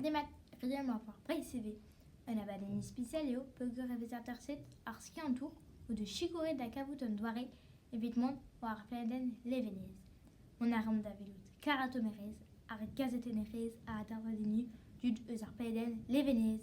Demat, friamor war Breizh ivez. Un abadenn ispisial eo peogwir e vez aterset ar skiantour o deus sikouret da kavout un doare evit mont war ar pladenn Levenez. Mont a raomp da welout karatomerezh ar gazetennerezh a atervez enni tud eus ar pladenn Levenez.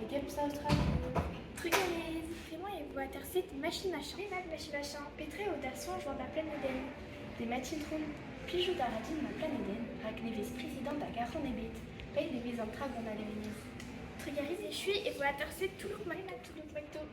E Games Australia. Trugarez! Emañ e waterfed machin ha chanved machin ha chañ. Petra eo da soñj war da planedenn? Demat Itron, plijout a ra din ma planedenn rak ne vez prezidant a garfan ebet. Eil e vez an tra gant al levnir. Trugarez echuiñ e waterfed Toulouk-Marina-Toulouk-Macto.